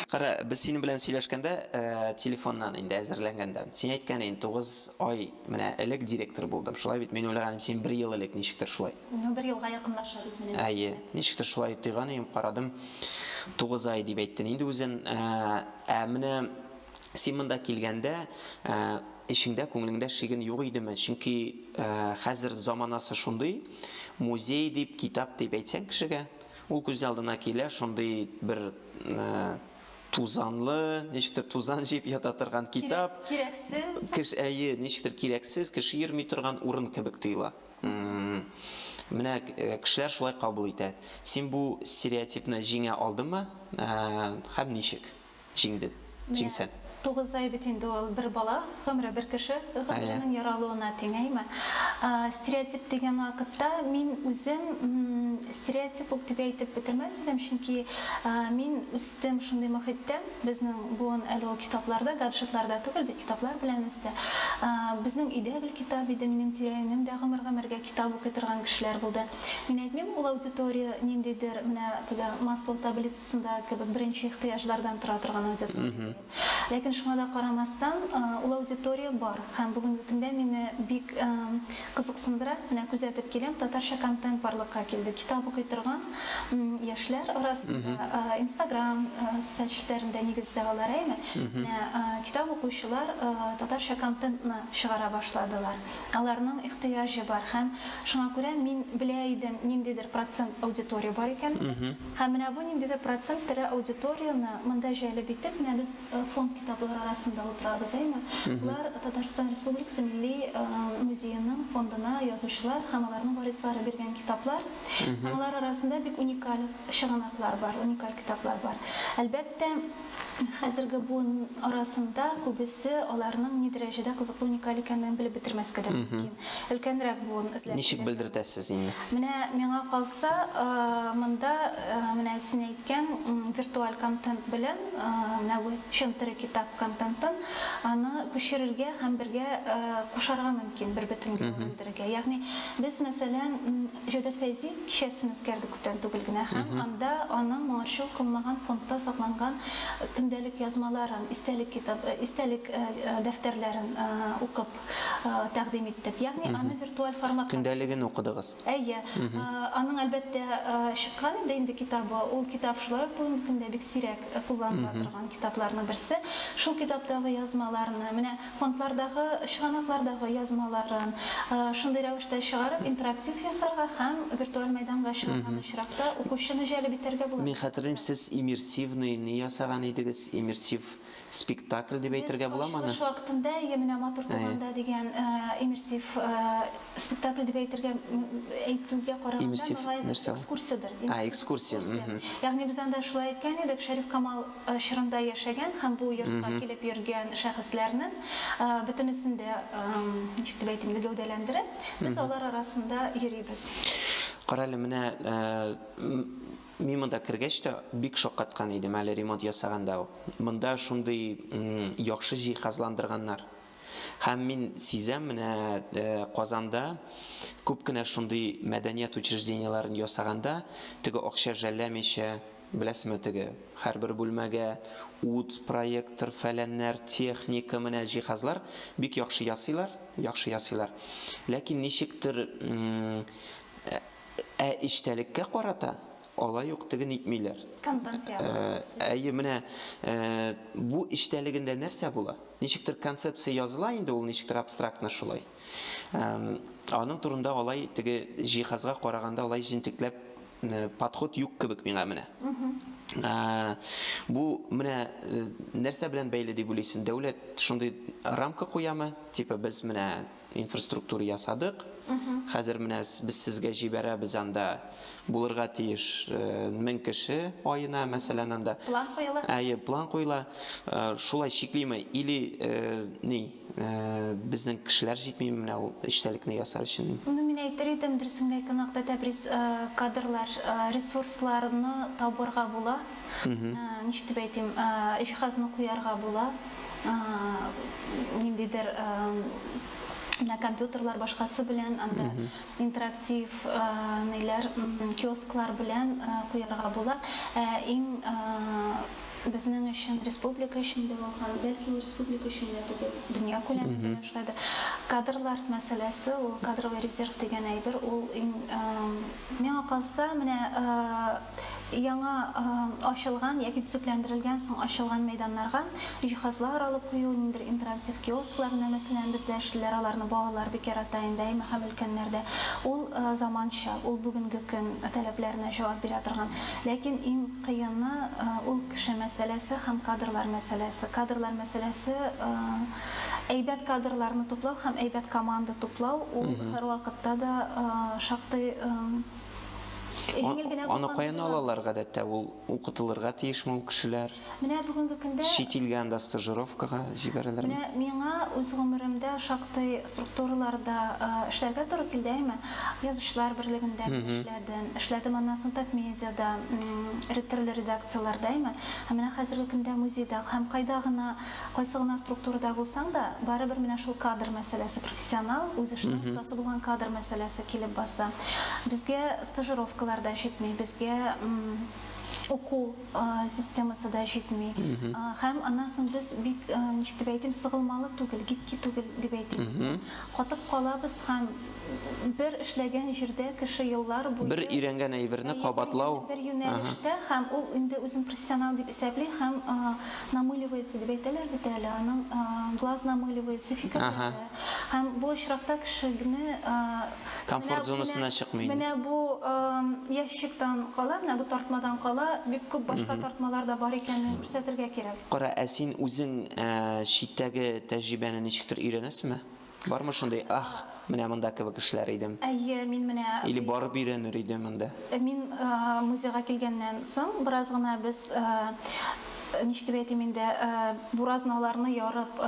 Кара, без синең белән сөйләшкәндә, телефоннан инде әзерләнгәндә, син әйткән идең, тугыз ай менә элек директор булдым. Шулай бит, мин уйлаган идем, син бер ел элек ничектер шулай. Ну, бер елга якынлашабыз менә. Әйе, ничектер шулай тойган идем, карадым, тугыз ай дип әйттен инде үзен. Ә менә Син монда килгәндә, ә, эчеңдә, күңелеңдә шиген юк идеме? Чөнки ә, хәзер заманасы шундый, музей дип, китап дип әйтсәң кешегә, ул күз алдына килә шундый бер ә, тузанлы, ничектер тузан җыеп ята торган китап. Кирәксез. Кеш, әйе, ничектер кирәксез, кеше йөрми торган урын кебек тоела. Менә э, кешеләр шулай кабул итә. Син бу стереотипны җиңә алдыңмы? Э, һәм ничек? Җиңде. Җиңсен. Менә тугыз ай бит инде ул бер бала гомере бер кеше гомеренең яралуына тиңәйме? Стереотип дигән вакытта мин үзем стереотип ук дип әйтеп бетермәс идем, чөнки мин үстем шундый мохиттә, безнең буын әле ул китапларда, гаджетларда түгел бит, китаплар белән үсте. Безнең өйдә гел китап иде, минем тирә-юнем дә гомер-гомергә китап укый торган кешеләр булды. Мин әйтмим, ул аудитория ниндидер менә теге Маслоу таблицасы. сында кебек беренче ихтыяҗлардан тора торган аудитория бирә. Ләкин шуңа да карамастан, ул аудитория бар һәм бүгенге көндә мине бик кызыксындыра, менә күзәтеп киләм, татарча контент барлыкка килде. Китап укый торган яшьләр арасында, инстаграм социаль челтәрендә нигездә алар, әйме, менә китап укучылар татарча контентны чыгара башладылар. Аларның ихтыяҗы бар һәм шуңа күрә мин белә идем, ниндидер процент аудитория бар икәнлеген. Һәм менә бу ниндидер процент тере аудиторияне монда җәлеп итеп, менә без фонд китаплары арасында утырабыз, әйме? Болар Татарстан Республикасы Милли музееның фондына язучылар һәм аларның варислары биргән китаплар. Һәм алар арасында бик уникаль чыганаклар бар, уникаль китаплар бар. Әлбәттә. Хәзерге буын арасында күбесе аларның ни дәрәҗәдә кызыклы, уникаль икәнлеген белеп бетермәскә дә мөмкин. Өлкәнрәк буын эзләп килергә. Ничек белдертәсез инде? Менә миңа калса, монда менә син әйткән виртуаль контент белән менә бу чын тере китап контентын аны күчерергә һәм бергә кушарга мөмкин, бербөтенгә әверелдерергә. Ягъни без мәсәлән, Җәүдәт Фәйзи кичәсен үткәрде күптән түгел генә һәм анда аның моңарчы укылмаган фондта сакланган көндәлек язмаларын, истәлек китап, истәлек дәфтәрләрен укып тәкъдим иттек. Ягъни аны виртуаль форматта. Көндәлеген укыдыгыз. Әйе. Аның, әлбәттә, чыккан инде инде китабы. Ул китап шулай ук бүгенге көндә бик сирәк кулланыла торган китапларның берсе. Шул китаптагы язмаларны, менә фондлардагы, чыганаклардагы язмаларын шундый рәвештә чыгарып, интерактив ясарга һәм виртуаль мәйданга чыгарган очракта укучыны җәлеп итәргә була. Мин хәтерлим, сез иммерсивный ни ясаган идегез, иммерсив спектакль дип әйтергә буламы аны? Без ачылыш вакытында Әйе, менә матур туган да дигән иммерсив спектакль дип әйтергә, әйтүгә караганда, мөгаен, экскурсиядер. А, экскурсия. Ягъни без анда шулай әйткән идек, Шәриф Камал, чорында яшәгән һәм бу йортка килеп йөргән шәхесләрнең бөтенесен дә, ничек дип әйтим, гәүдәләндереп, без алар арасында йөрибез. Кара әле, менә мин монда кергәч тә бик шаккаткан идем, әле ремонт ясаганда ук. Монда шундый яхшы җиһазландырганнар. Һәм мин сизәм, менә Казанда күп кенә шундый мәдәният учреждениеләрен ясаганда, теге акча жәлләмичә, Беләсеме, теге, һәрбер бүлмәгә ут, проектор, фәләннәр, техника, менә җиһазлар, бик яхшы ясыйлар, яхшы ясыйлар. Ләкин ничектер, ә эчтәлеккә карата алай ук теге нитмиләр. Контент ясыйлар. Әйе, менә бу эчтәлегендә нәрсә була? Ничектер концепция языла инде, ул ничектер абстрактно шулай. Аның турында алай теге җиһазга караганда алай җентекләп подход юк кебек миңа менә. Бу менә нәрсә белән бәйле дип уйлыйсың? Дәүләт шундый рамка куямы? Типа без менә инфраструктура ясадык. Хәзер менә без сезгә җибәрәбез анда булырга тиеш 1000 кеше аена, мәсәлән, анда. План куела. Әйе, план куела. Шулай чиклиме или ни? Безнең кешеләр җитмиме менә ул эчтәлекне ясар өчен? Ну мин әйтер идем, дөресен генә әйтү нокта тәбрис, кадрлар, ресурсларны табырга була. Ничек дип әйтим, җиһазны куярга була. Ниндидер менә компьютерлар башкасы белән анда интерактив ниләр, киосклар белән куярга була. Ә иң Безнең өчен, республика өчен дә ул һәм, бәлки, ул республика өчен генә түгел, дөнья күләмендә дә шулай да. Кадрлар мәсьәләсе, ул кадровый резерв дигән әйбер, ул иң, миңа калса, менә яңа ачылган яки төзекләндерелгән соң ачылган мәйданнарга җиһазлар алып кую, ниндидер интерактив киосклар менә, мәсәлән, бездә эшлиләр, аларны балалар бик ярата инде, әйме, һәм өлкәннәр дә. Ул заманча, ул бүгенге көн таләпләренә җавап бирә торган. Ләкин иң. Кыены, ул кеше мәсьәләсе һәм кадрлар мәсьәләсе. Кадрлар мәсьәләсе, әйбәт кадрларны туплау һәм әйбәт команда туплау, ул һәрвакытта да шактый җиңел генә булган. Аны каян алалар гадәттә? Ул укытылырга тиешме ул кешеләр? Менә бүгенге көндә. Чит илгә анда стажировкага җибәрәләрме? Менә миңа үз гомеремдә шактый структураларда эшләргә туры килде, әйме? Язучылар берлегендә мин эшләдем. Эшләдем аннан соң Татмедиада, төрле редакцияләрдә әйме. Һәм менә хәзерге көндә музейда һәм кайда гына, кайсы гына структурада булсаң да, барыбер менә шул кадр мәсьәләсе, профессионал, үз эшенең остасы булган кадр мәсьәләсе килеп баса. Безгә стажировкалар да җитми, безгә уку системасы да җитми. Һәм аннан соң без бик, ничек дип әйтим, сыгылмалы түгел, гибкий түгел дип әйтим. Катып калабыз һәм Бер эшләгән җирдә кеше еллар буе. Бер өйрәнгән әйберне кабатлау. Бер юнәлештә һәм ул инде үзен профессионал дип исәпли һәм намыливается дип әйтәләр бит әле, аның глаз намыливается, фикерләре. Һәм бу очракта кешене. Комфорт зонасыннан чыкмый инде. Менә бу ящиктан кала, менә бу тартмадан кала бик күп башка тартмалар да бар икәнен күрсәтергә кирәк. Кара, ә син үзең читтәге тәҗрибәне ничектер өйрәнәсеңме? Бармы шундый, ах, менә монда кебек эшләр идем. Әйе, мин менә. Или барып өйрәнер идем монда. Мин музейга килгәннән соң бераз гына без, ничек дип әйтим инде, буразналарны ярып,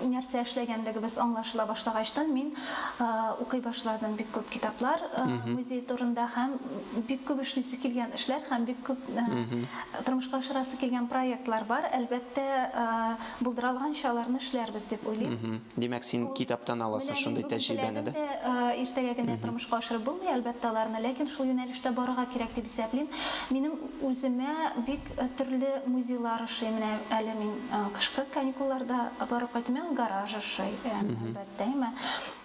нәрсә эшләгәнлегебез аңлашыла башлагачтын, мин укый башладым бик күп китаплар музей турында һәм бик күп эшлисе килгән эшләр һәм бик күп тормышка ашырасы килгән проектлар бар. Әлбәттә. Булдыралганча аларны эшләрбез дип уйлыйм. Димәк, син китаптан аласың шундый тәҗрибәне, да? Менә бүген теләдем дә, иртәгә генә тормышка ашырып булмый, әлбәттә, аларны, ләкин шул юнәлештә барырга кирәк дип исәплим. Минем үземә бик төрле музейлар ошый. Менә әле мин кышкы каникулларда барып кайттым. Миңа гараж ошый, әлбәттә.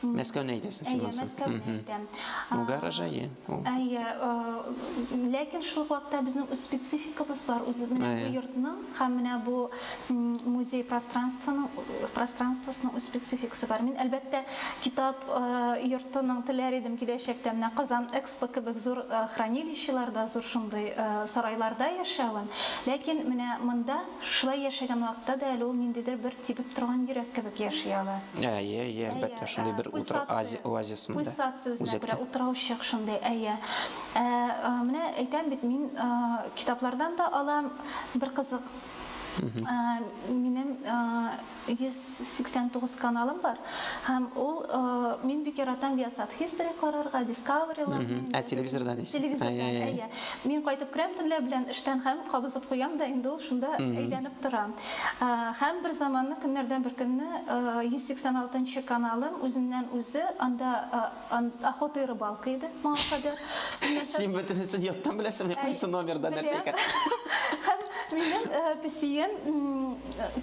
Мәскәүне әйтәсең син монсын. Әйе, Мәскәүне әйтәм. Гараж, әйе. Әйе, ләкин шул ук вакытта безнең үз спецификабыз бар, үзе менә бу йортның һәм менә бу музей пространствоның пространствосының үз спецификасы бар. Мин әлбәттә китап йортының теләр идем киләчәктә менә Казан Экспо кебек зур хранилищеларда, зур шундый сарайларда яшәвен, ләкин менә монда Шушылай яшәгән вакытта да әле ул ниндидер бер тибеп торган йөрәк кебек яши ала. Әйе, әйе, әлбәттә, шундый бер утыр оазис, оазис монда, Пульсация үзенә күрә, үзәктә. утраучык шундый, әйе. Ә, менә әйтәм бит, мин китаплардан да алам, бер кызык, минем 189 каналым бар һәм ул мин бик яратам Viasat History карарга, Discovery ла. Ә телевизорда дисез? Телевизорда, әйе. Мин кайтып керәм төнлә белән эштән һәм кабызып куям да инде ул шунда әйләнеп тора. Һәм бер заманны көннәрдән бер көнне 186 нчы каналым үзеннән үзе анда Охота и рыбалка иде моңа кадәр. Син бөтенесен яттан беләсең, кайсы номерда нәрсә икән? Минем э, песием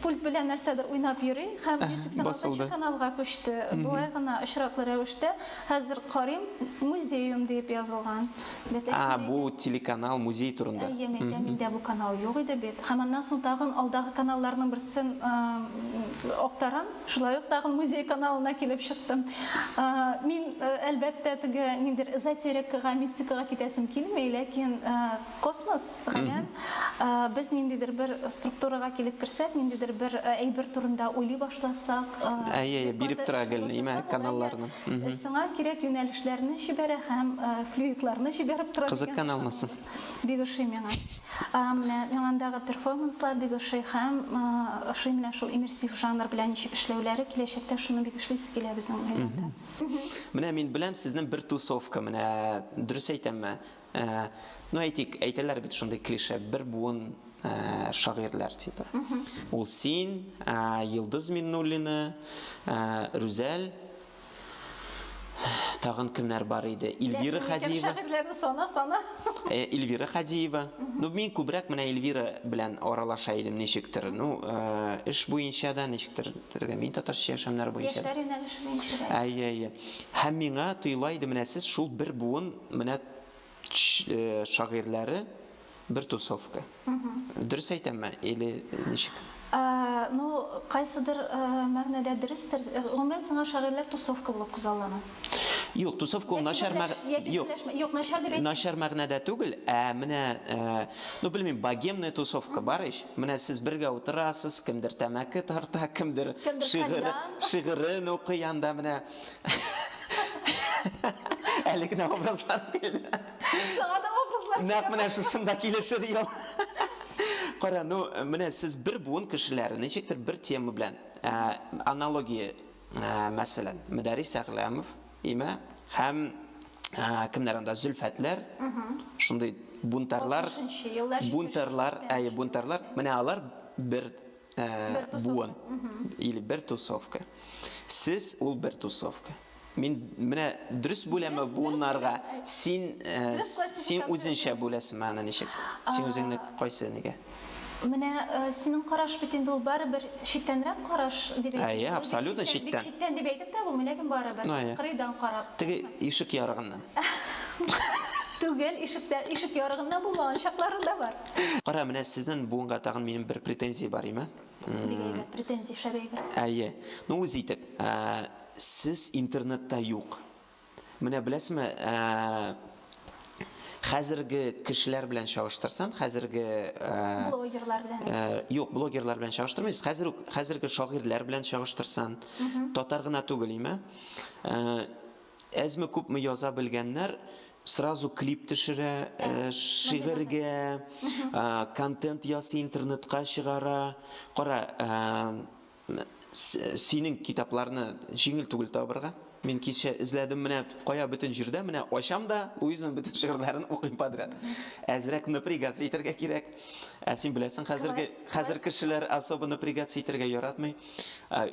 пульт белән нәрсәдер уйнап йөри һәм 186 каналга күчте. Болай гына очраклы рәвештә хәзер карыйм музеем дип язылган. А, бу телеканал музей турында. Әйе, миндә миндә бу канал юк иде бит. Һәм аннан соң тагын алдагы каналларның берсен э, актарам. Шулай ук тагын музей каналына килеп чыктым. Мин, әлбәттә, теге ниндер эзотерикага, мистикага китәсем килми, ләкин космос, галәм, без ниндидер бер структурага килеп керсәк, ниндидер бер әйбер турында уйлый башласак, әйе, әйе, биреп тора гел, имә каналларны. Сиңа кирәк юнәлешләрне җибәрә һәм флюидларны җибәреп тора. Кызыккан алмасын. Бик ошый миңа. Менә миңа андагы перформанслар бик ошый һәм ошый менә шул иммерсив жанр белән ничек эшләүләре, киләчәктә шуны бик эшлисе килә безнең уенда. Менә мин беләм сезнең бер тусовка, менә дөрес әйтәмме? Ну әйтик, әйтәләр бит шундый клише, бер буын шагыйрьләр типа. Ул син, Йолдыз Миннуллина, Рүзәл Тагын кемнәр бар иде? Ильвира Хадиева. Шагыйрьләрне сана, сана. Э, Ильвира Хадиева. Ну, мин күбрәк менә Ильвира белән аралаша идем ничектер. Ну, э, эш буенча да ничектер, төргә мин татарча яшәмнәр буенча. Яшьләр юнәлеше буенча. Әйе, әйе. Һәм миңа тоела иде, менә сез шул бер буын, менә Шагыйрьләре бер тусовка. Дөрес әйтәмме или ничек? Ну, кайсыдыр мәгънәдә дөрестер. Гомумән сиңа шагыйрьләр тусовка булып күзаллана? Юк, тусовка ул начар мәгънә. Начар мәгънәдә түгел, ә менә, ну, белмим, богемная тусовка бар ич. Менә сез бергә утырасыз, кемдер тәмәке тарта, кемдер шигырен укый анда менә. Әле генә образлар килде. Саңа да образлар. Нәкъ менә шушында килешер ел. Кара, ну, менә сез бер буын кешеләре, ничектер бер тема белән ә, аналогия, ә, мәсәлән, Мөдәрис Әгъләмов, имә, һәм ә, кемнәр анда Зөлфәтләр, шундый бунтарлар, бунтарлар, әйе, бунтарлар, менә алар бер Ә, бер тусовка. Буын. Или бер тусовка. Сез ул бер тусовка. Мин менә дөрес бүләме буыннарга син э, син үзенчә бүләсең аны ничек? Син үзеңне кайсы нигә? Менә э, синең караш бит инде ул барыбер читтәнрәк караш дип әйтә. Әйе, абсолютно читтән. Читтән дип әйтеп тә булмый, ләкин барыбер. Ну, Кырыйдан карап. Теге ишек ярыгыннан. Түгел, ишектә, ишек ярыгыннан булмаган чаклары да бар. Кара, менә сезнен буынга тагын минем бер претензия бар име? Бик әйбәт претензия, шәп әйбәт. Әйе. Ну, үз итеп, ә, сез интернетта юк. Менә беләсеме, ә, хәзерге кешеләр белән чагыштырсам, хәзерге, ә, Блогерлар белән. ә, юк, блогерлар белән чагыштырмыйбыз, хәзер үк, хәзерге шагыйрьләр белән чагыштырсам, татар гына түгел име, ә, әзме-күпме яза белгәннәр, Сразу клип төшерә, шигырьгә, контент ясый, интернетка чыгара. Кара, синең китапларны җиңел түгел табырга. Мин кичә эзләдем, менә кая бөтен җирдә, менә ачам да, Луизаның бөтен шигырьләрен укыйм подряд. Әзрәк напрягаться итәргә кирәк. Ә син беләсең, хәзерге, хәзер кешеләр особо напрягаться итәргә яратмый.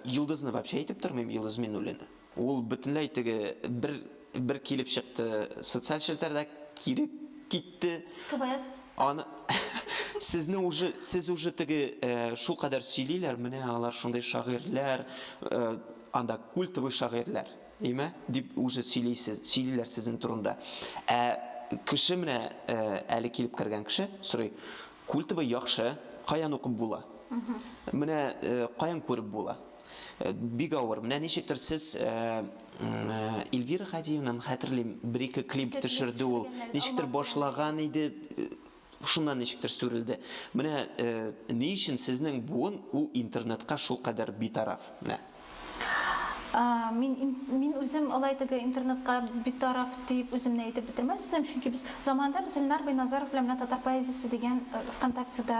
Йолдызны вообще әйтеп тормыйм, Йолдыз Миннуллина. Ул бөтенләй теге бер бер килеп чыкты, социаль челтәрдә кире китте. Квест. Аны Сезне уже сез уже теге э, шул кадәр сөйлиләр, менә алар шундый шагыйрьләр, э, анда культовый шагыйрьләр, име? дип уже сөйлисез, сөйлиләр сезнең турында. Ә кеше менә э, әле килеп кергән кеше сорый, культовый яхшы, каян укып була? Менә э, каян күреп була? Бик авыр. Менә ничектер сез Эльвира Хадиевнаны хәтерлим, бер-ике клип төшерде ул. Ничектер башлаган иде, шуннан ничектер сүрелде. Менә ни өчен сезнең буын ул интернетка шул кадәр битараф? Менә. Мин мин үзем алай теге интернетка битараф Диеп үземне әйтеп бетермәс идем, чөнки без заманында без Илнар Бәйназаров белән менә Татар поэзиясе дигән ВКонтактеда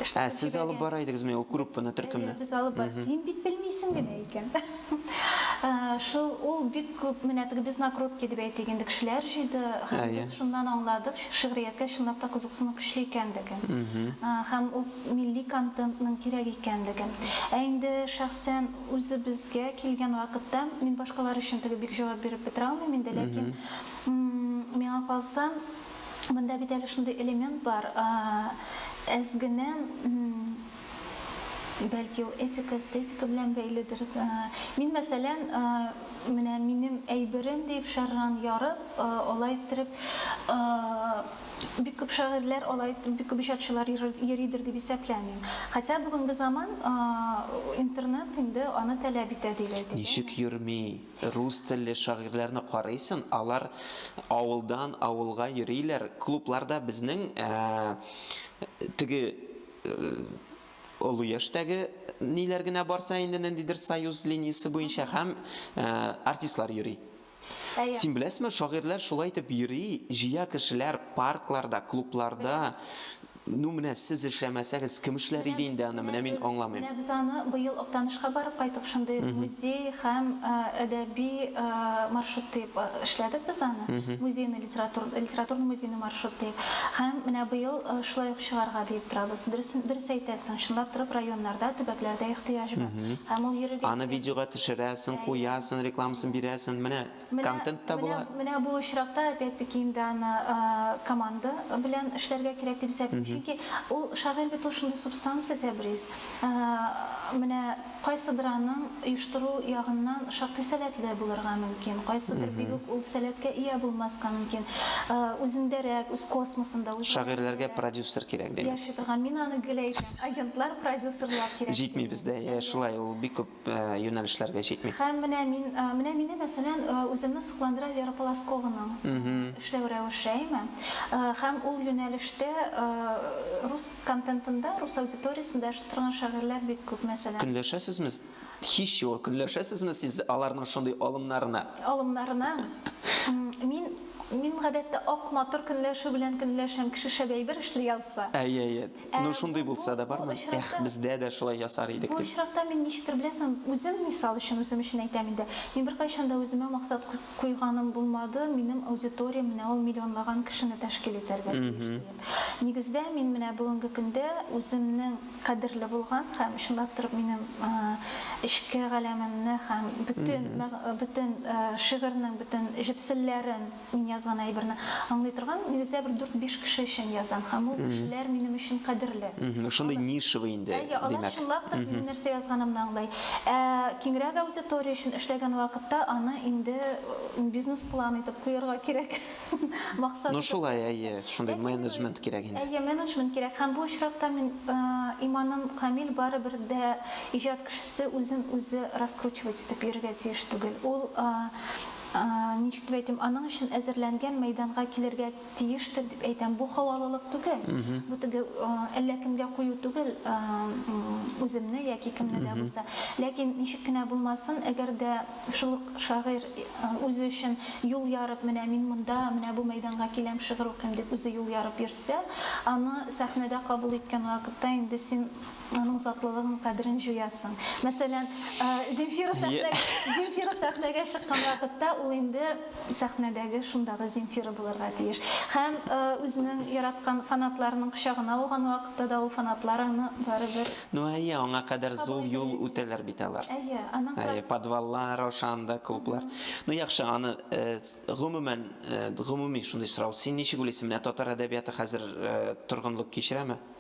эшләп йөргән. Ә сез алып бара идегезме ул группаны, төркемне? Әйе, без алып бар. Син бит белмисең генә икән. Шул, ул бик күп, менә теге без накрутки дип әйтик инде, кешеләр җыйды һәм без шуннан аңладык, шигърияткә чынлап та кызыксыну көчле икәнлеген. Һәм ул милли контентның кирәк икәнлеген. Ә инде шәхсән Үзебезгә килгән вакытта, мин башкалар өчен теге бик җавап биреп бетерә алмыйм инде, ләкин миңа калса, монда бит әле шундый элемент бар, әз генә, бәлки ул этика, эстетика белән бәйледер. Мин, мәсәлән, менә минем әйберем диеп шәрран ярып, алай иттереп, бик күп шагыйрьләр алай, бик күп иҗатчылар йөридер дип исәпләмим. Хотя бүгенге заман интернет инде аны таләп итә дип әйтик. Ничек йөрми? Рус телле шагыйрьләрне карыйсын, алар авылдан авылга йөриләр, клубларда безнең теге олы яшьтәге ниләр генә барса инде, ниндидер союз линиясе буенча һәм артистлар йөри. Син беләсме, шагыйрьләр шулай итеп йөри, җыя кешеләр паркларда, клубларда. Ну, менә сез эшләмәсәгез, кем эшләр иде инде аны, менә мин аңламыйм. Менә без аны быел Актанышка барып кайтып шундый музей һәм әдәби маршрут диеп эшләдек без аны. Музейный Литератур, литературный музейный маршрут диеп. Һәм менә быел шулай ук чыгарга диеп торабыз. Дөрес, дөрес әйтәсең, чынлап торып районнарда, төбәкләрдә ихтыяҗ бар. Һәм ул йөрергә. Аны видеога төшерәсең, куясың, рекламасын бирәсең, менә контент та була. Менә, менә бу очракта опять-таки инде аны команда белән эшләргә кирәк дип исәплим. Чөнки ул шагыйрь бит ул шундый субстанция, Тәбрис. Менә Кайсыдыр аның оештыру ягыннан шактый сәләтле булырга мөмкин, кайсыдыр бик үк ул сәләткә ия булмаска мөмкин. Үзендәрәк, үз космосында, үз галәмендәрәк. Шагыйрьләргә продюсер кирәк, димме? Яши торган. Мин аны гел әйтәм, агентлар, продюсерлар кирәк. Җитми бездә, йә, шулай, ул бик күп юнәлешләргә җитми. Һәм менә мин, менә мине, мәсәлән, үземне сокландыра Вера Полоскованың эшләү рәвеше, әйме? Һәм ул юнәлештә рус контентында, рус аудиториясендә эшләү. Торган шагыйрьләр бик күп, мәсәлән. Көнләшәсезме? Һич югы, көнләшәсезме сез аларның шундый алымнарына? Алымнарына? Мин, мин гадәттә ак, матур көнләшү белән көнләшәм, кеше шәп әйбер эшли алса. Әй, әй, әй. Ну, шундый булса да бармы? Эх, бездә дә шулай ясар идек, дип. Бу очракта мин ничектер, беләсең, үзем, мисал өчен, үзем өчен әйтәм инде, мин беркайчан да үземә максат куйганым булмады, минем аудиториям менә ул миллионлаган кешене тәшкил итәргә тиеш диеп. Нигездә мин менә бүгенге көндә үземнең кадерле булган һәм чынлап торып минем эчке галәмемне һәм бөтен бөтен шигырьнең бөтен җепселләрен, мин язган әйберне аңлый торган нигездә бер дүрт-биш кеше өчен язам һәм ул кешеләр минем өчен кадерле. Шундый нишевый инде, димәк. Алар чынлап та минем нәрсә язганымны аңлый. Ә киңрәк аудитория өчен эшләгән вакытта аны инде бизнес-план итеп куярга кирәк, максат итеп. Ну шулай, әйе, шундый менеджмент кирәк инде. Әйе, менеджмент кирәк. Һәм бу очракта мин, иманым камил, барыбер дә иҗат кешесе үзен үзе раскручивать итеп йөрергә тиеш түгел. Ул, ничек дип әйтим, аның өчен әзерләнгән мәйданга килергә. Тиештер дип әйтәм. Бу халалылык түгел. Бу теге әллә кемгә кую түгел, үземне яки кемне дә булса. Ләкин ничек кенә булмасын, әгәр дә шул ук шагыйрь үзе өчен юл ярып, менә мин монда, менә бу мәйданга киләм, шигырь укыйм дип үзе юл ярып йөрсә, аны сәхнәдә кабул иткән вакытта инде син Аның затлылыгы һәм кадерен җуясың. Мәсәлән, Земфира сәхнәгә, Земфира сәхнәгә чыккан вакытта ул инде сәхнәдәге шундагы Земфира булырга тиеш. Һәм үзенең яраткан фанатларының кочагына ауган вакытта да ул фанатлар аны барыбер Ну, әйе, аңа кадәр зул юл үтәләр бит алар. Әйе, аның Әйе, подваллар аша анда клублар. Ну, яхшы, аны гомумән, гомуми шундый сорау. Син ничек уйлыйсың, менә татар әдәбияты хәзер торгынлык кичерәме?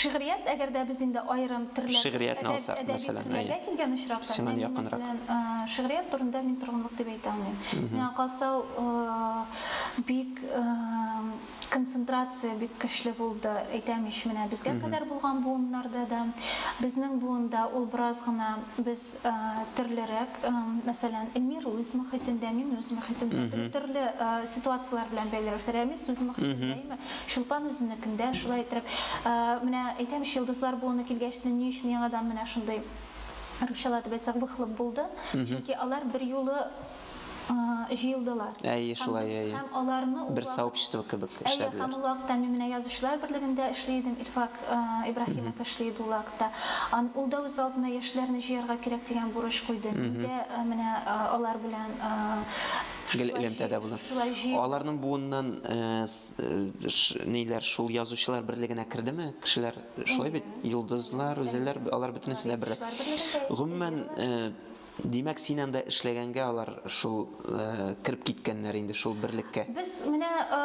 Шигърият, әгәр дә без инде аерым төрләргә, әдәби төрләргә килгән очракта, мин, мәсәлән, шигърият турында мин торгынлык дип әйтә алмыйм. Миңа калса, бик концентрация бик көчле булды, әйтәм ич, менә безгә кадәр булган буыннарда да, безнең буында ул бераз гына без төрлерәк, мәсәлән, Эльмира үз мохитендә, мин үз мохитемдә, төрле ситуацияләр белән бәйле. Рәмис үз мохитендә, әйеме? Чулпан үзенекендә, шулай иттереп, менә әйтәм бит, йолдызлар буыны килгәч, ни өчен яңадан менә шундый, русчалатып әйтсәк, выхлоп булды, чөнки алар берьюлы җыелдылар. Әйе, шулай, әйе. Һәм аларны ул вакыт. Бер сообщество кебек эшләделәр. Әйе, һәм ул вакытта мин менә Язучылар берлегендә эшли идем, Ильфак Ибраһимов эшли иде ул вакытта. Ул да үз алдына яшьләрне җыярга кирәк дигән бурыч куйды. Мин дә менә алар белән гел элемтәдә булыр. Аларның буыннан ниләр шул язучылар берлегенә кердеме? Кешеләр шулай бит, йолдызлар, үзеләр, алар бөтенесе дә берлек. Гомумән, Димәк, син анда эшләгәнгә алар шул э, кереп киткәннәр инде шул берлеккә. Без менә э,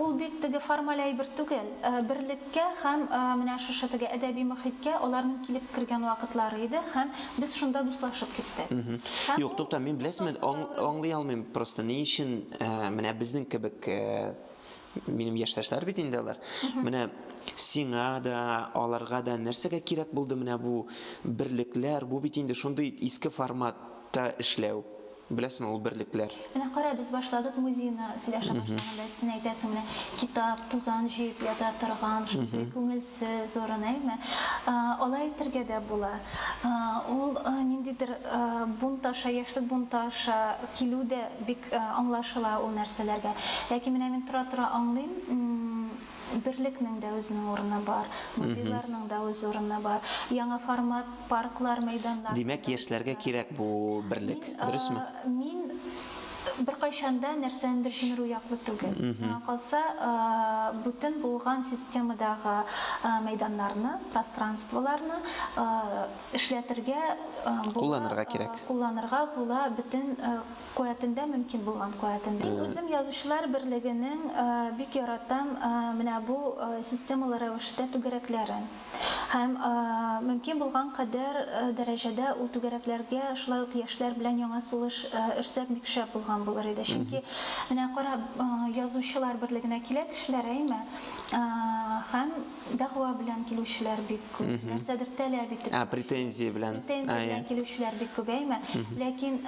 ул бит теге формаль әйбер түгел. Э, берлек Кә һәм менә шушы теге әдәби мохиткә аларның килеп кергән вакытлары иде һәм без шунда дуслашып киттек. Һәм Юк, тукта, мин беләсеме, аңлый алмыйм просто, ни өчен менә безнең кебек, минем яшьтәшләр бит инде алар, менә сиңа да, аларга да нәрсәгә кирәк булды менә бу берлекләр, бу бит инде шундый иске форматта эшләү. Беләсеңме ул берлекләр? Менә кара, без башладык музейны сөйләшә башлаганда, син әйтәсең менә китап, тузан җыеп ята торган, шундый күңелсез урын, әйме? Алай әйтергә дә була. Ул ниндидер бунт аша, яшьлек бунты аша килү дә бик аңлашыла ул нәрсәләргә. Ләкин менә мин тора-тора аңлыйм, Берлекнең дә үзенең урыны бар, музейларның да үз урыны бар. Яңа формат парклар, мәйданнар. Димәк, яшьләргә кирәк бу берлек, дөресме? Мин беркайчан да нәрсәнедер җимерү яклы түгел. Миңа калса, бүтән булган системадагы мәйданнарны, пространстволарны эшләтергә була. Кулланырга кирәк. Кулланырга була, бөтен Куәтендә, мөмкин булган куәтендә. Мин үзем Язучылар берлегенең бик яратам менә бу системалы рәвештә түгәрәкләрен. Һәм мөмкин булган кадәр дәрәҗәдә ул түгәрәкләргә шулай ук яшьләр белән яңа сулыш өрсәк бик шәп булган булыр иде. Чөнки менә кара, Язучылар берлегенә килә кешеләр, әйме? Һәм Дәгъва белән килүчеләр бик күп. Нәрсәдер таләп итеп. А, претензия белән. Претензия белән килүчеләр бик күбәйме? Ләкин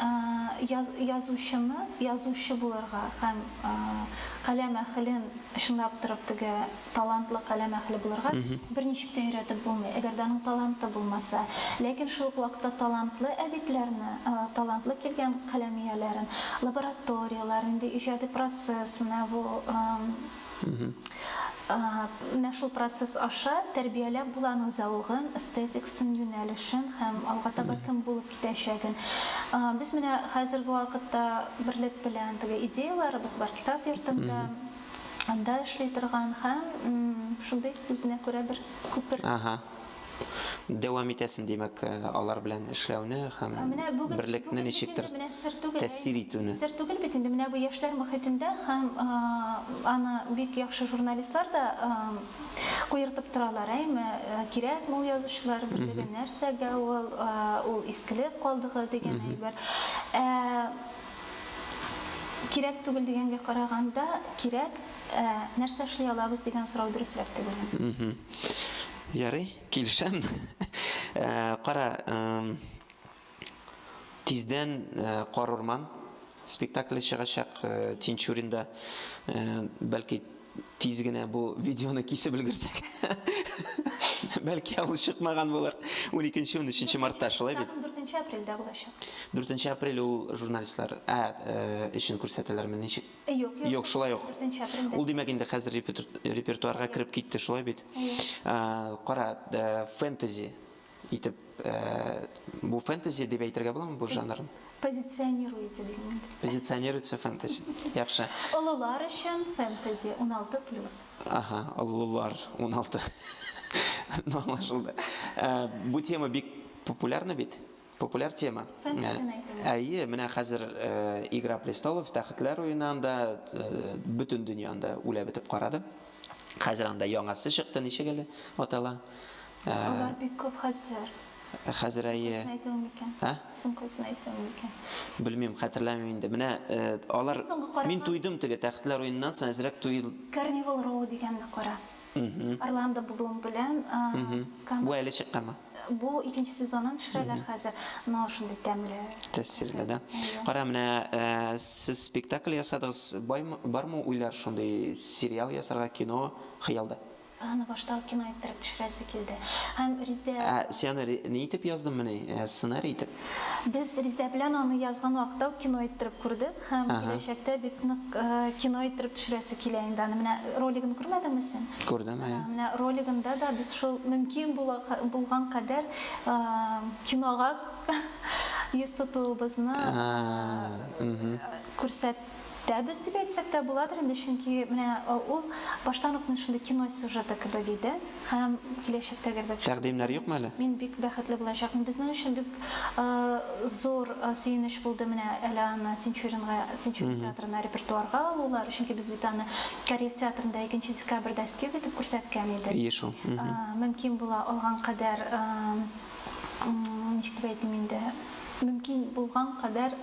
язучыны язучы булырга һәм каләм әхелен чынлап торып теге талантлы каләм әхеле булырга берничек тә өйрәтеп булмый, әгәр дә аның таланты булмаса. Ләкин шул ук вакытта талантлы әдипләрне, талантлы килгән каләм ияләрен лабораторияләр, нинди иҗади процесс, менә бу Менә шул процесс аша тәрбияләп була аның зәвыгын, эстетикасын, юнәлешен һәм алга таба кем булып китәчәген. Без менә хәзерге вакытта Берлек белән теге идеяләребез бар, китап йортында, анда эшли торган һәм шундый үзенә күрә бер күпер. Дәвам итәсен, димәк, алар белән эшләүне һәм берлекне ничектер тәэсир итүне. Сер түгел бит инде, менә бу яшьләр мөхитендә һәм аны бик яхшы журналистлар да куертып торалар, әйме, кирәкме ул язучылар берлеге, нәрсәгә ул, ул искелек калдыгы дигән әйбер. Ә кирәк түгел дигәнгә караганда, кирәк, нәрсә эшли алабыз дигән сорау дөресрәк дип уйлыйм. Ярый, килешәм. Ә, кара, эм, тиздән ә, Кар урман спектакле чыгачак ә, Тинчуринда. Ә, бәлки тиз генә бу видеоны кисеп өлгерсәк. Бәлки ул чыкмаган булыр. 12-13 мартта шулай бит? Спектакль 4 апрельдә булачак. 4 апрель ул журналистлар ә, ә, өчен күрсәтәләрме, ничек? Юк, шулай ук. Ул димәк инде хәзер репертуарга кереп китте, шулай бит? Кара, фэнтези итеп бу фэнтези дип әйтергә буламы бу жанрын? Позиционируется дигән. Позиционируется фэнтези. Яхшы. Олылар өчен фэнтези 16+. Ага, олылар 16. Ну, аңлашылды. Бу тема бик популярны бит. Популяр тема. Фәнтезияне әйтү. Әйе, менә хәзер э, Игра престолов, Тәхетләр уены анда э, бөтен дөнья анда үлә бетеп карады. Хәзер анда яңасы чыкты, ничек әле атала? Э, Алар бик күп хәзер. Хәзер әйе. Исем әйтү микән? Ә? Исем куйсын әйтү микән? Белмим, хәтерләмим инде. Менә э, алар Соңгы караган- Мин туйдым теге Тәхетләр уеныннан соң әзрәк туй Carnival Row дигәнне кара. Орландо Блум белән Бу әле чыкканмы? Бу икенче сезонын төшерәләр хәзер, но шундый тәмле. Тәэсирле, да? Кара, менә сез спектакль ясадыгыз, бармы уйлар шундый сериал ясарга, кино хыялда? Аны башта ук кино иттереп төшерәсе килде. Һәм Риздә... Ә син аны ни итеп яздың, менә сценарий итеп? Без Риздә белән аны язган вакытта ук кино иттереп күрдек. Һәм Ага. киләчәктә бик нык э, кино иттереп төшерәсе килә инде аны. Менә ролигын күрмәдеңме син? Күрдем, әйе. Ә, Менә ролигында да без шул мөмкин була, булган кадәр э, кинога йөз тотуыбызны А, мгм. күрсәтәбез дип әйтсәк тә буладыр инде, чөнки менә э, ул баштан ук менә шундый кино сюжеты кебек иде. Һәм киләчәктәге дә. Тәкъдимнәр юкмы әле? Мин бик бәхетле булачакмын. Безнең өчен бик зур сөенеч булды менә әле аны Тинчуринга, Тинчурин театрына репертуарга алулары, чөнки без бит аны Кариев театрында икенче декабрьдә эскиз итеп күрсәткән идек. Ие шул. Мөмкин була алган кадәр, ничек дип әйтим инде, мөмкин булган кадәр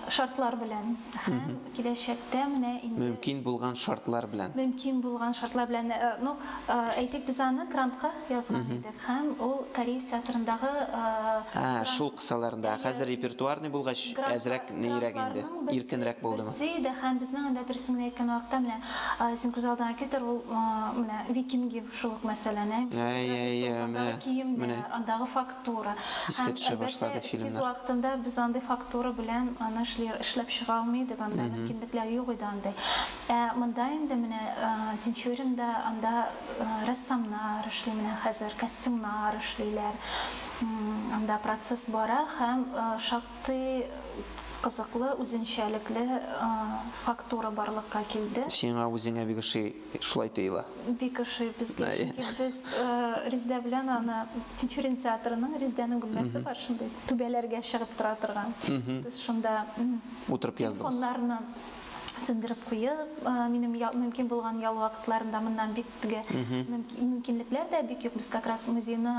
шартлар белән һәм. Киләчәктә менә инде. Мөмкин булган шартлар белән. Мөмкин булган шартлар белән. Ну, әйтик, без аны Крантка язган идек һәм ул Кариев театрындагы Гранд. Ә, шул кысаларында. Ә хәзер репертуарный булгач, әзрәк ниерәк инде? Иркенрәк булдымы? Грандларның берсе иде һәм безнең анда, дөресен генә әйткән вакытта, менә син күз алдыңа китер, ул менә Викинги шул ук мәсьәләне. Әйе, әйе, менә. Андагы кием дә, андагы факт. Фактура. Искә төшә башлады фильмнар. Эскиз вакытында без андый фактура белән аны эшләп чыга алмый идек, анда мөмкинлекләр юк иде андый. Ә монда инде менә Тинчуринда анда рәссамнар эшли менә хәзер, костюмнар эшлиләр. Анда процесс бара һәм шактый кызыклы, үзенчәлекле фактура барлыкка килде. Сиңа үзеңә бик ошый. Шулай тыела. Бик ошый безгә, чөнки без Резда белән аны Тинчурин театрының Резданың бүлмәсе бар шундый, түбәләргә чыгып тора торган. Без шунда утырып яздыгыз. Телефоннарны сүндереп куеп, минем мөмкин булган ял вакытларында моннан бик теге мөмкинлекләр дә бик юк. Без как раз музейны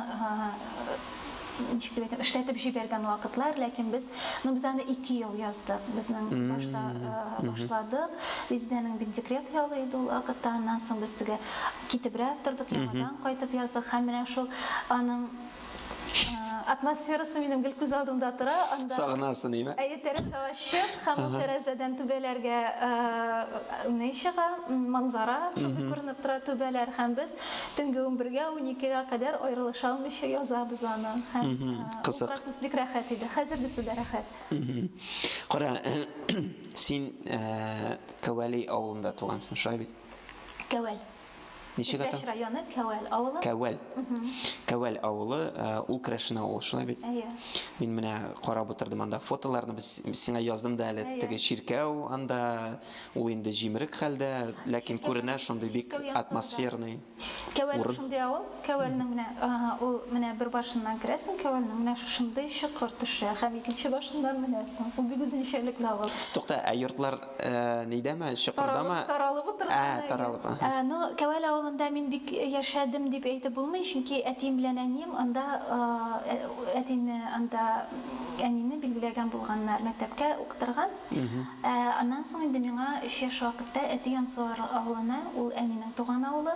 ничек дип әйтим, эшләтеп җибәргән вакытлар, ләкин без, ну без аны ике ел яздык, безнең башта башладык, Резидәнең бит декрет ялы иде ул вакытта, аннан соң без теге китебрәк тордык, яңадан кайтып яздык, һәм менә шул аның атмосферасы минем гел күз алдымда тора. Сагынасы ниме? Әйе, тәрәзә ачык, һәм ул тәрәзәдән түбәләргә ни чыга, манзара шундый күренеп тора, түбәләр, һәм без Төнге унбергә, уникегә кадәр аерылыша алмыйча язабыз аны. Һәм ул процесс бик рәхәт иде. Хәзергесе дә рәхәт. Кара, син Кәвәли авылында тугансың, шулай бит? Кәвәл. Ничек ата? Иптәш районы Кәвәл авылы. Кәвәл. Кәвәл авылы, ул Крәшен авылы, шулай бит? Әйе. Мин менә карап утырдым анда фотоларны, сиңа яздым да әле, теге чиркәү анда, Ул инде җимерек хәлдә, ләкин күренә шундый бик атмосферный. Кәвәл Урын. шундый авыл, Кәвәлнең менә ага, ул менә бер башыннан керәсең Кәвәлнең, менә шушындый чокыр төшә һәм икенче башыннан менәсең. Ул бик үзенчәлекле авыл. Тукта, ә йортлар нидәме, чокырдамы? Таралып, таралып утырган Ә, әле. таралып, аһа. Ә, ну, Кәвәл авылында мин бик яшәдем дип әйтеп булмый, чөнки әтием белән әнием анда, әтине анда, әнине билгеләгән булганнар, мәктәпкә укытырга. Аннан соң инде миңа өч яшь вакытта әти Ансуар авылына, ул әнинең туган авылы,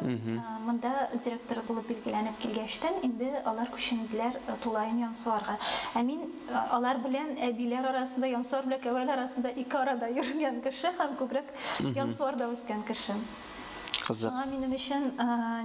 монда директор булып билгеләнеп килгәчтен, инде алар күченделәр тулаем Янсуарга. Ә мин алар белән әбиләр арасында, Янсуар белән Кәвәл арасында ике арада йөргән кеше һәм күбрәк Янсуарда үскән кеше. Кызык. Аңа минем өчен,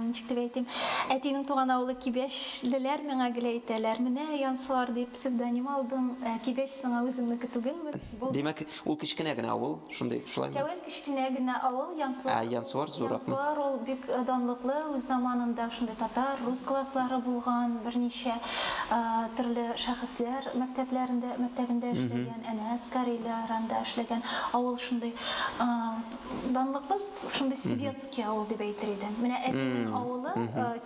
ничек дип әйтим, әтинең туган авылы Кибәчлеләр миңа гел әйтәләр, менә Янсуар дип псевдоним алдың, ә Кибәч сиңа үзеңнеке түгелме? Булдымы? Димәк, ул кечкенә генә авыл, шундый, шулаймы? Тәвәл кечкенә генә авыл, Янсуар. Ә Янсуар зурракмы? Янсуар ул бик данлыклы, үз заманында шундый татар, рус класслары булган, берничә төрле шәхесләр мәктәпләрендә, мәктәбендә эшләгән, әнә Скарилар анда эшләгән, авыл шундый. Данлыкбыз шундый светский авыл дип әйтер идем. Менә әтинең авылы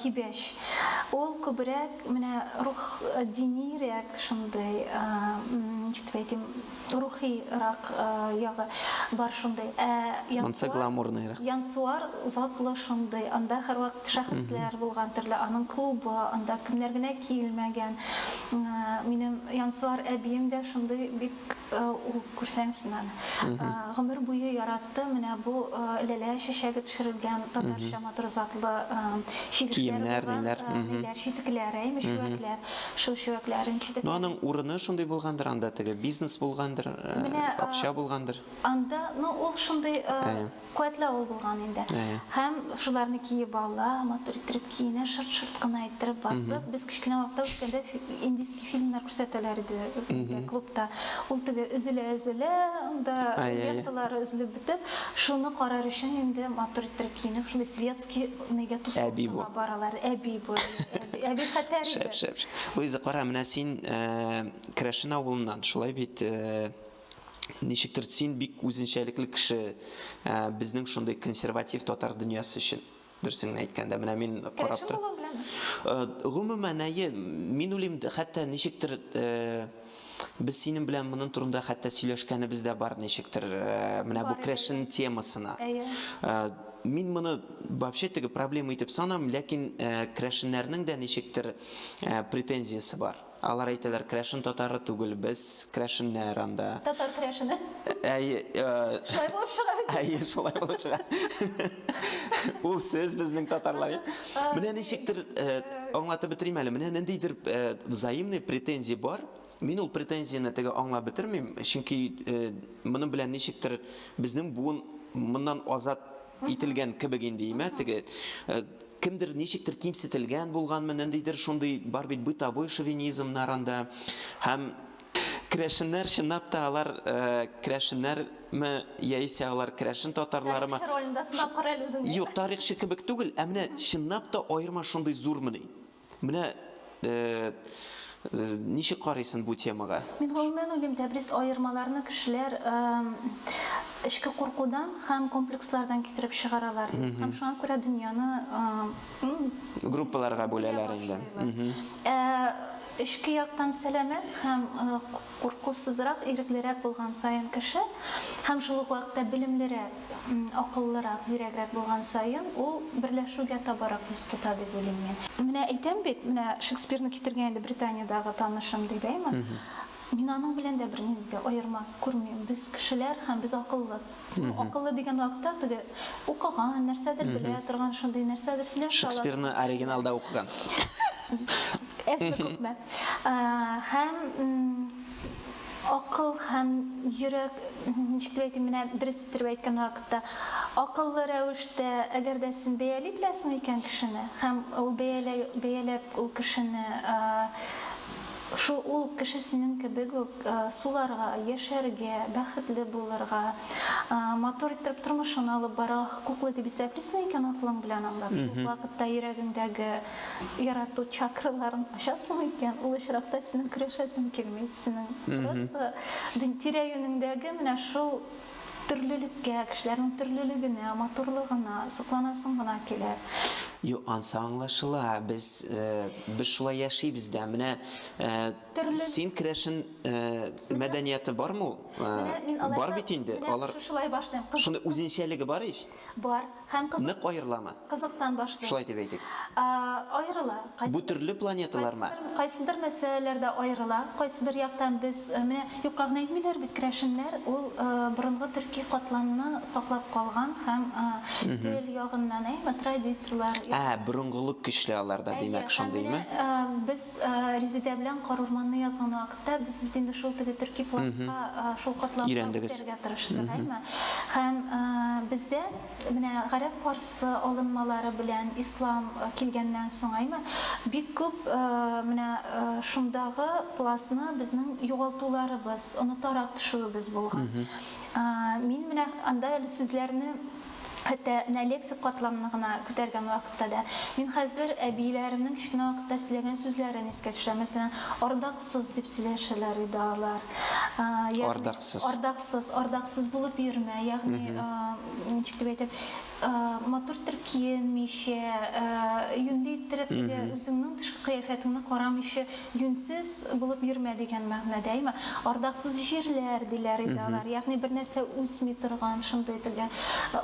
Кибәч. Ул күбрәк менә рух динирәк шундый, ничек дип әйтим, рухирак ягы бар шундый. Ә Янсуар, Янсуар затлы шундый. Анда һәрвакыт шәхесләр булган төрле, аның клубы, анда кемнәр генә килмәгән. Минем Янсуар әбием дә шундый бик Ул күрсәң син аны. Гомер буе яратты менә бу ләлә чәчәге төшерелгән татарча матур затлы читекләр булган, читекләр, әйме, чүәкләр. Шул чүәкләрен читек. Ну, аның урыны шундый булгандыр анда, теге бизнес булгандыр, акча булгандыр. Анда, ну, ул шундый Куәтле авыл булган инде. Һәм шуларны киеп ала, матур иттереп киенә, шырт-шырт кына иттереп басып. Без кечкенә вакытта үскәндә индийский фильмнар күрсәтәләр иде клубта. Ул теге өзелә-өзелә, анда ленталары өзелеп бетеп, шуны карар өчен инде матур иттереп киенеп, шундый светский нигә тусовкага баралар. Әби бу. Әби хәтәр иде. Шәп, шәп, шәп. Луиза, кара, менә син Керәшен авылыннан, шулай бит? Ничектер син бик үзенчәлекле кеше ә, безнең шундый консерватив татар дөньясы өчен. Дөрсеңне әйткәндә, менә мин карап торам. Ә, гомумән, әйе, мин уйлыйм, хәтта ничектер ә, без синең белән моның турында хәтта сөйләшкәнебез дә бар ничектер, ә, менә бу крэшн темасына. Әйе. Ә, мин моны вообще теге проблема итеп санам, ләкин ә, крэшннәрнең дә ничектер ә, претензиясе бар. Алар әйтәләр, Крәшен татары түгел, без крәшеннәр анда. Татар крәшене. Әйе. Шулай булып чыга бит. Әйе, шулай булып чыга. Ул сез безнең татарлар. Менә ничектер аңлатып бетерим әле. Менә ниндидер взаимный претензия бар. Мин ул претензияне теге аңлап бетермим, чөнки моның белән ничектер безнең буын моннан азат ителгән кебек инде имә теге Кемдер ничектер кимсетелгән булганмы, ниндидер шундый бар бит бытовой шовинизмнар анда һәм Керәшеннәр чынлап та алар керәшеннәрме яисә алар керәшен татарларымы? Тарихчы ролендә сынап кара әле үзеңне. Юк, тарихчы кебек түгел, ә менә чынлап та аерма шундый зурмыни? Менә ничек карыйсын бу темага? Мин гомумән уйлыйм, тәбрис аермаларны кешеләр эчке куркудан һәм комплекслардан китереп чыгаралар дип. Һәм шуңа күрә дөньяны группаларга бүләләр инде. Ә эчке яктан сәламәт һәм Куркусызрак, иреклерәк булган саен кеше һәм шул ук вакытта белемлерәк, акыллырак, зирәгрәк булган саен ул берләшүгә табарак йөз тота дип уйлыйм мин. Менә әйтәм бит, менә Шекспирны китергән иде Британиядәге танышым ди дә имән. Мин аның белән дә бернинди дә аерма күрмим. Без кешеләр һәм без акыллы. Ул акыллы дигән вакытта теге укыган, нәрсәдер белә торган шундый нәрсәдер сөйләшә ала. Шекспирны оригиналда укыган. Әзме күпме. Һәм акыл һәм йөрәк, ничек дип әйтим, менә дөрес иттереп әйткән вакытта, акыллы рәвештә, әгәр дә син бәяли беләсең икән кешене, һәм ул бәяләп ул кешене Шул ул кешесенең кебек үк суларга, яшәргә, бәхетле булырга, матур иттереп тормышын алып барырга хокуклы дип исәплисең икән, акылың белән аңлап, шул ук вакытта йөрәгеңдәге ярату чакраларын ачасың икән, ул очракта синең көрәшәсең килми, синең просто тирә-юнеңдәге менә шул Төрлелеккә, кешеләрнең төрлелегенә, матурлыгына сокланасың гына килә. Юк, ансы аңлашыла, без, без шулай яшибез дә. Менә син керәшен мәдәнияты бармы ул? Бар бит инде, алар. Менә шушылай башлыйм. Шундый үзенчәлеге бар ич. Бар. Һәм кызык. Нык аерыламы? Кызыктан башлыйк. Шулай дип әйтик. А, аерыла. Кайсы. Бу төрле планеталармы? Кайсыдыр, кайсыдыр мәсьәләләрдә аерыла. Кайсыдыр яктан без, менә юкка гына әйтмиләр бит, керәшеннәр ул борынгы төрки катламны саклап калган һәм тел ягыннан, әйме, традицияләр. А, борынгылык көчле аларда, димәк, шундыймы? Ә, менә без. Без Резедә белән Карурманны язган вакытта, без бит инде шул теге төрки пластка, шул катламга үтәргә тырыштык, әйме? Һәм бездә менә гарәп-фарсы алынмалары белән ислам килгәннән соң, әйме, бик күп менә шундагы пластны безнең югалтуларыбыз, онытарак төшүебез булган. Мин менә анда әле сүзләрне Хәтта менә лексик катламны гына күтәргән вакытта да. Мин хәзер әбиләремнең кечкенә вакытта сөйләгән сүзләрен искә төшерәм. Мәсәлән, ардаксыз дип сөйләшәләр иде алар. Ягъни, ардаксыз. Ардаксыз, ардаксыз булып йөрмә. Ягъни, ничек дип әйтим, матур иттереп киенмичә, юньле иттереп, үзеңнең тышкы кыяфәтеңне карамыйча, Юньсез булып йөрмә дигән мәгънәдәме? Ардаксыз җирләр, диләр иде алар. Ягъни бер нәрсә үсми торган, шундый теге,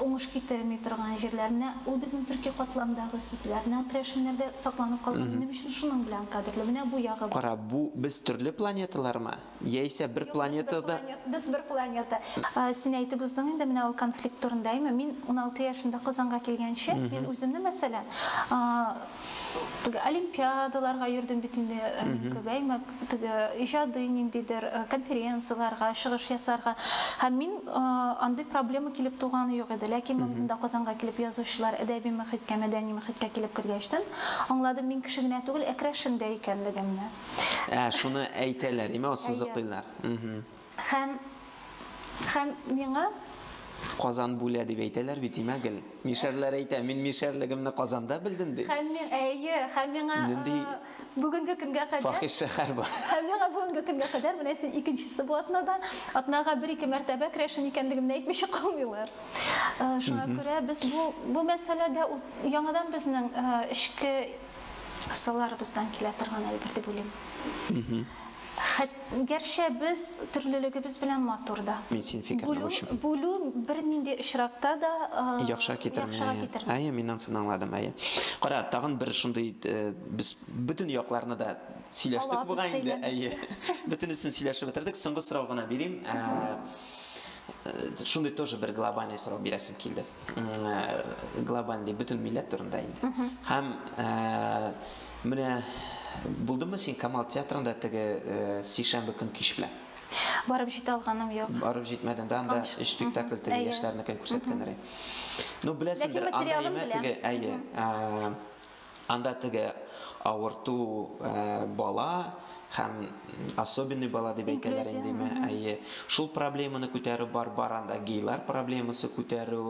уңыш китерми торган җирләр. Менә ул безнең төрки катламдагы сүзләр. Менә ул керәшеннәрдә сакланып калган. Минем өчен шуның белән кадерле. Менә бу ягы бар. Кара, бу без төрле планеталармы? Яисә бер планетада. Без бер планета. Син әйтеп уздың инде менә ул конфликт турында, әйме? Мин 16 яшемдә Казанга килгәнче, мин үземне, мәсәлән, теге олимпиадаларга йөрдем бит инде күп, әйме, теге иҗади ниндидер конференцияләргә чыгыш ясарга. Һәм мин андый проблема килеп туганы юк иде. Ләкин монда Казанга килеп язучылар әдәби мөхиткә, мәдәни мөхиткә килеп кергәчтен, аңладым, мин кеше генә түгел, ә крәшен дә икәнлегемне. Ә, шуны әйтәләр, име, ассызыклыйлар. Хәм, хәм миңа... Казан бүлә дип әйтәләр бит, име, гел. Мишәрләр әйтә, мин мишәрлегемне Казанда белдем, ди. Хәм миңа, әйе, хәм миңа... Нинди... Бүгенге көнгә кадәр... Фахиш шәхәр бар. Хәм миңа бүгенге көнгә кадәр, менә син икенчесе бу атнада, атнага бер-ике мәртәбә крәшен икәнлегемне әйтмичә калмыйлар. Шуңа күрә без бу мәсьәләдә яңадан безнең эчке Сылларыбыздан килә торган әйбер дип уйлыйм. Хәт, гәрчә без төрлелегебез белән матур да. Мин син фикерне Бүлү, бүчим. бүлү бернинди очракта да а, Яхшыга китерми. яхшыга әйе. китерми. Әйе, мин анысын аңладым, әйе. Кара, тагын бер шундый э, без бөтен якларны да сөйләштек Алабыз, бугай инде, сөйләдек. әйе. Бөтенесен сөйләшеп бетердек. Соңгы сорау гына бирим. Ә, э, Шундый тоже бер глобальный сорау бирәсем килде. глобаль дип бөтен милләт турында инде. Һәм менә булдымы син Камал театрында теге сишәмбе көн кич белән? Барып җитә алганым юк. Барып җитмәдем дә анда өч спектакль теге яшьләрнекен күрсәткәннәр. Ну беләсеңдер, анда имә теге әйе. Анда теге авырту бала һәм особенный бала дип әйтәләр индеме? Әйе. Шул проблеманы күтәрү бар, бар анда гейлар проблемасы күтәрү.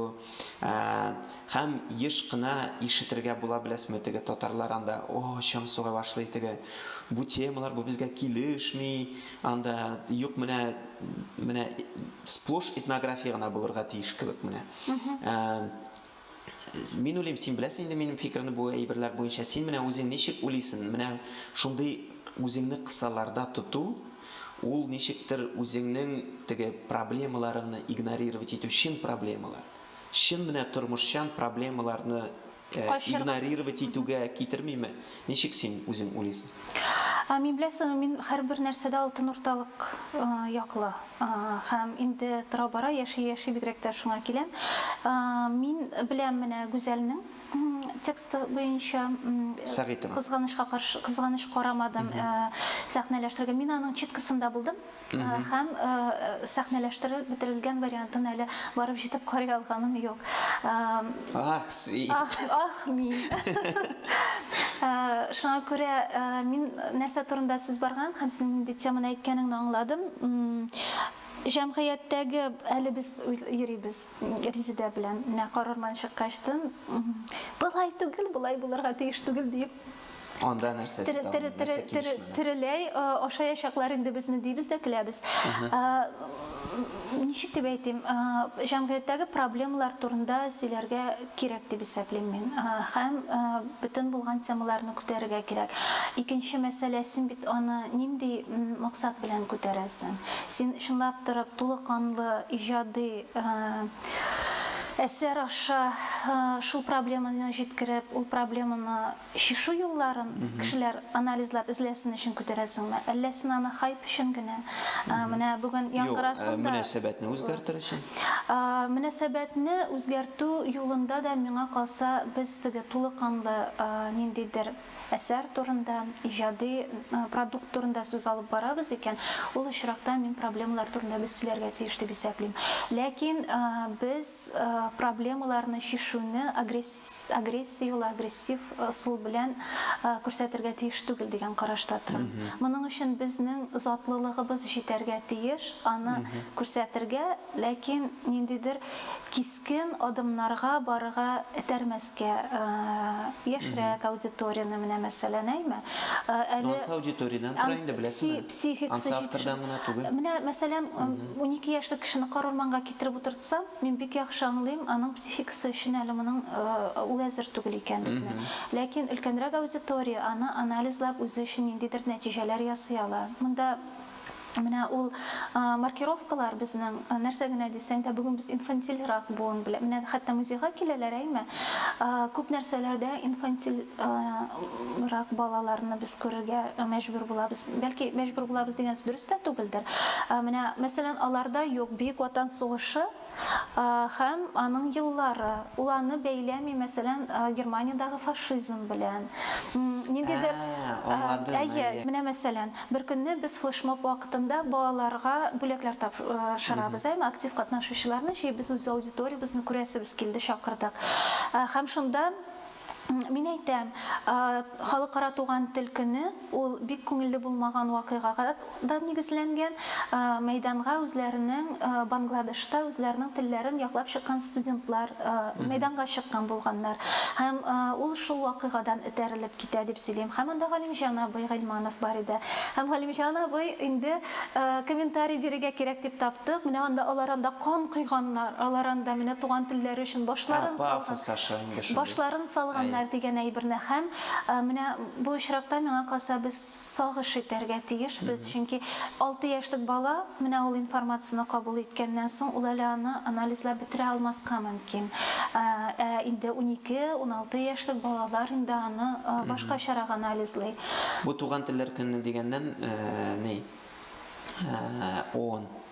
Һәм еш кына ишетергә була беләсме теге татарлар анда, о, чаң суга башлый теге. Бу темалар бу безгә килешми. Анда юк менә менә сплош этнография гына булырга тиеш кебек менә. Мин уйлыйм, син беләсең инде минем фикерне бу әйберләр буенча. Син менә үзең ничек уйлыйсың? Менә шундый үзеңне кысаларда тоту, ул ничектер үзеңнең теге проблемаларыңны игнорировать итү, чын проблемалар. Чын менә тормышчан проблемаларны э, Качыр- игнорировать итүгә китермиме? Ничек син үзең уйлыйсың? Ә мин беләсеңме, мин һәрбер нәрсәдә алтын урталык яклы. Һәм инде тора-бара, яши-яши бигрәк тә шуңа киләм. Мин беләм менә Гүзәлнең тексты буенча, Сәгыйтова. кызганычка каршы, кызганыч карамадым, сәхнәләштерергә. Мин аның читкысында булдым. Һәм сәхнәләштереп бетерелгән вариантын әле барып җитеп карый алганым юк. Ах, си. Ах, ах, мин. Шуңа күрә мин нәрсә турында сүз барган һәм синең нинди теманы әйткәнеңне аңладым. Җәмгыятьтәге әле без йөрибез Резидә белән. Менә карарман чыккачтын, былай түгел, былай булырга тиеш түгел диеп Анда нәрсә Тереләй ашаячаклар инде безне дибез дә көләбез. Ничек дип әйтим, җәмгыятьтәге проблемалар турында сөйләргә кирәк дип исәплим мин. Һәм бөтен булган темаларны күтәрергә кирәк. Икенче мәсьәлә, син бит аны нинди максат белән күтәрәсең? Син чынлап торып тулыканлы иҗади әсәр аша шул проблеманы җиткереп, ул проблеманы Шишу юлларын кешеләр анализлап эзләсен өчен күтәрәсеңме, әллә син аны хайп өчен генә, менә бүген яңгырасын да. Юк, мөнәсәбәтне үзгәртер өчен. Мөнәсәбәтне үзгәртү юлында да, миңа калса, без теге тулы канлы ниндидер әсәр турында, иҗади продукт турында сүз алып барабыз икән, ул очракта мин проблемалар турында без сөйләргә тиеш дип исәплим. Ләкин без проблемаларны чишүне агрессив. агрессия юлы, агрессив ысул белән күрсәтергә тиеш түгел дигән карашта торам. Моның өчен безнең затлылыгыбыз җитәргә тиеш, аны күрсәтергә, ләкин ниндидер кискен адымнарга барырга этәрмәскә, яшьрәк аудиторияне менә мәсәлән, әйме? Әле Ну, ансы аудиториядән тора инде, беләсеңме? Ансы автордан гына түгел. Менә мәсәлән, унике яшьлек кешене карурманга Китереп утыртса, мин бик яхшы аңлыйм аның психикасы өчен әле моның ул әзер түгел икәнлекне. Ләкин өлкәнрәк аудитория аны анализлап үзе өчен ниндидер нәтиҗәләр ясый ала. Монда менә ул маркировкалар безнең нәрсә генә дисәң дә, бүген без инфантильрак буын белән, менә хәтта музейга киләләр, әйме, күп нәрсәләрдә инфантильрак балаларны без күрергә мәҗбүр булабыз. Бәлки мәҗбүр булабыз дигән сүз дөрес дөрестә түгелдер. Менә, мәсәлән, аларда юк Бөек Ватан сугышы һәм аның еллары. Ул аны бәйләми, мәсәлән, Германиядәге фашизм белән. Ниндидер Аңладым, әйе. Әйе, менә, мәсәлән, беркөнне без флешмоб вакытында балаларга бүләкләр тапшырабыз, әйеме, актив катнашучыларны җыйбыз, үз аудиториябезне күрәсебез килде, чакырдык. Һәм шунда Мин әйтәм, Халыкара туган тел көне ул бик күңелле булмаган вакыйгага да нигезләнгән. Мәйданга үзләренең Бангладешта үзләренең телләрен яклап чыккан студентлар мәйданга чыккан булганнар. Һәм ул шул вакыйгадан этәрелеп китә дип сөйлим. Һәм анда Галимҗан абый Гыйльманов бар иде. Һәм Галимҗан абый инде комментарий бирергә кирәк дип таптык. Менә анда алар анда кан койганнар, алар анда менә туган телләре өчен башларын салган. Пафос аша. Башларын салганнар дигән әйберне һәм менә бу очракта, миңа калса, без сагыш итәргә тиешбез, чөнки алты яшьлек бала менә ул информацияне кабул иткәннән соң, ул әле аны анализлап бетерә алмаска мөмкин. Ә инде унике, уналты яшьлек балалар инде аны башкачарак анализлый. Бу Туган телләр көне дигәннән ни, ООН.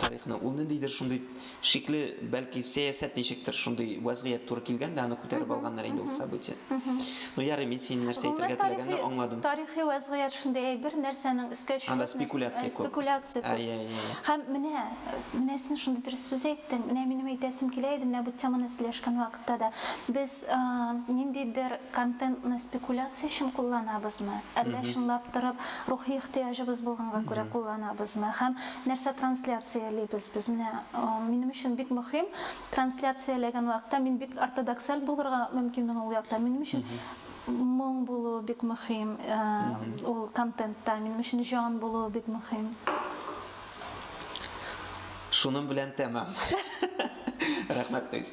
тарихны. Ул ниндидер шундый шикле, бәлки сәясәт ничектер, шундый вәзгыять туры килгән дә, аны күтәреп алганнар инде ул событие. Ну ярый, мин синең нәрсә әйтергә теләгәнне аңладым. Тарихи вәзгыять шундый әйбер, нәрсәнең өскә чыгып, анда спекуляция күп. Спекуляция күп. Әйе, әйе. Һәм менә, менә син шундый дөрес сүз әйттең. Менә минем әйтәсем килә иде, менә бу теманы сөйләшкән вакытта да. Без Без ниндидер контентны спекуляция өчен кулланабызмы, әллә чынлап торып рухи ихтыяҗыбыз булганга күрә кулланабызмы һәм нәрсә трансляциялибез без? Менә минем өчен бик мөһим, трансляцияләгән вакытта мин бик ортодоксаль булырга мөмкинмен ул якта. Минем өчен моң булуы бик мөһим ул контентта, минем өчен җан булуы бик мөһим. Шуның белән тәмам. Рәхмәт, Гыйз.